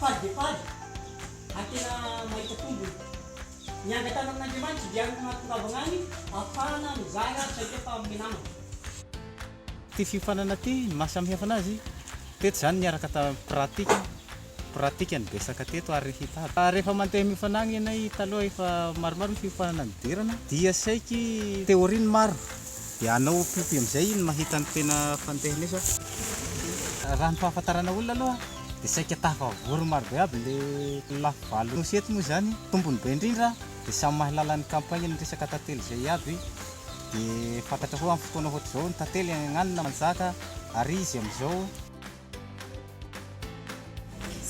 Faly dia faly ary tena mahita tombony. Niangatana amin'Andriamanitra dia hanome fahatongavana any ahafahana mizara traikefa amin'ny namana. Ity fiofanana ity, ny maha samihafa anazy, teto izany niaraka tamin'ny pratika, pratika no betsaka teto ary hita aby. Rehefa mandeha miofana agny ianay, taloha efa maromaro ny fiofanana nidirana, dia saiky théorie ny maro. Dia anao piopi amizay iny mahita ny tena fandehany sa? Raha ny fahafantarana olona aloha dia saika tafavory marobe aby le lafy valo nosy eto moa izany tombony be indrindra dia samy mahalala ny campagne ny resaka tantely izay iaby dia fantatra koa am fotoana ohatr'izao ny tantely agnanona manjaka ary izy amizao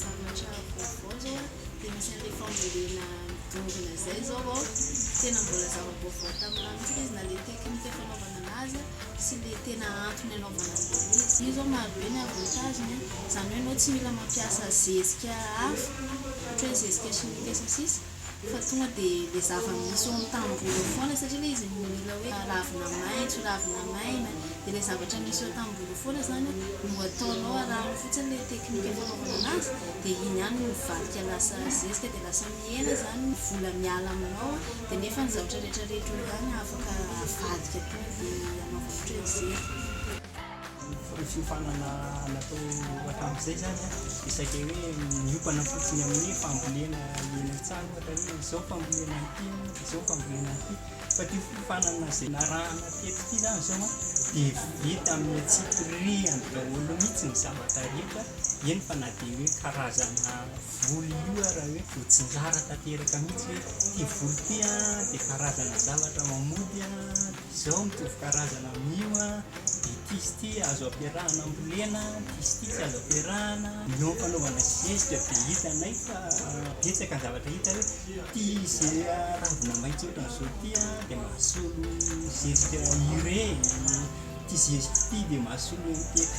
Zavatra vaovao zao a de misy an'ilay fambolena midongona izay zao vao tena mbola zava-baovao taminah mihitsy izy na le teknika fanaovana anazy sy le tena antony anaovana an'ilay izy. Io zao marobe ny avantage-ny a, zany hoe anao tsy mila mampiasa zezika hafa ohatra hoe zezika chimique sy ny sisa fa tonga dia ilay zava-misy ao amin'ny tamboho eo foana satria ilay izy no mila hoe ravina maitso, ravina maina, dia ilay zavatra misy eo tamboho eo foana izany no ataonao, arahanao fotsiny ilay teknika fanaovana an'azy dia iny ihany no mivadika lasa zezika dia lasa mihena izany ny vola miala aminao dia nefa ny zavatra rehetra rehetra eo ihany afaka avadika tao dia anaovanao ohatran'ny zezika. Ny fiofanana natao hatramin'izay zany an, dia saika hoe miompana fotsiny amin'ny fambolena eny an-tsaha ohatra hoe izao fambolena an'ity an, dia izao fambolena an'ity, fa ity fiofanana izay narahana teto ity zany izao an, dia vita amin'ny antsipirihany daholo mihintsy ny zavatra rehetra, eny fa na dia hoe karazana voly io ara hoe voatsinjara tanteraka mihintsy hoe ity voly ity an dia karazana zavatra mamody an. Izao mitovy karazana amin'io an, ity sy ity azo ampiarahana ambolena, ity sy ity tsy azo ampiarahana. Eo am-panaovana zezika dia hitanay fa betsaka ny zavatra hita hoe ity izay ravina maitso ohatran'izao ity an dia mahasolo zezika urée, ity zezika ity dia mahasolo MPK.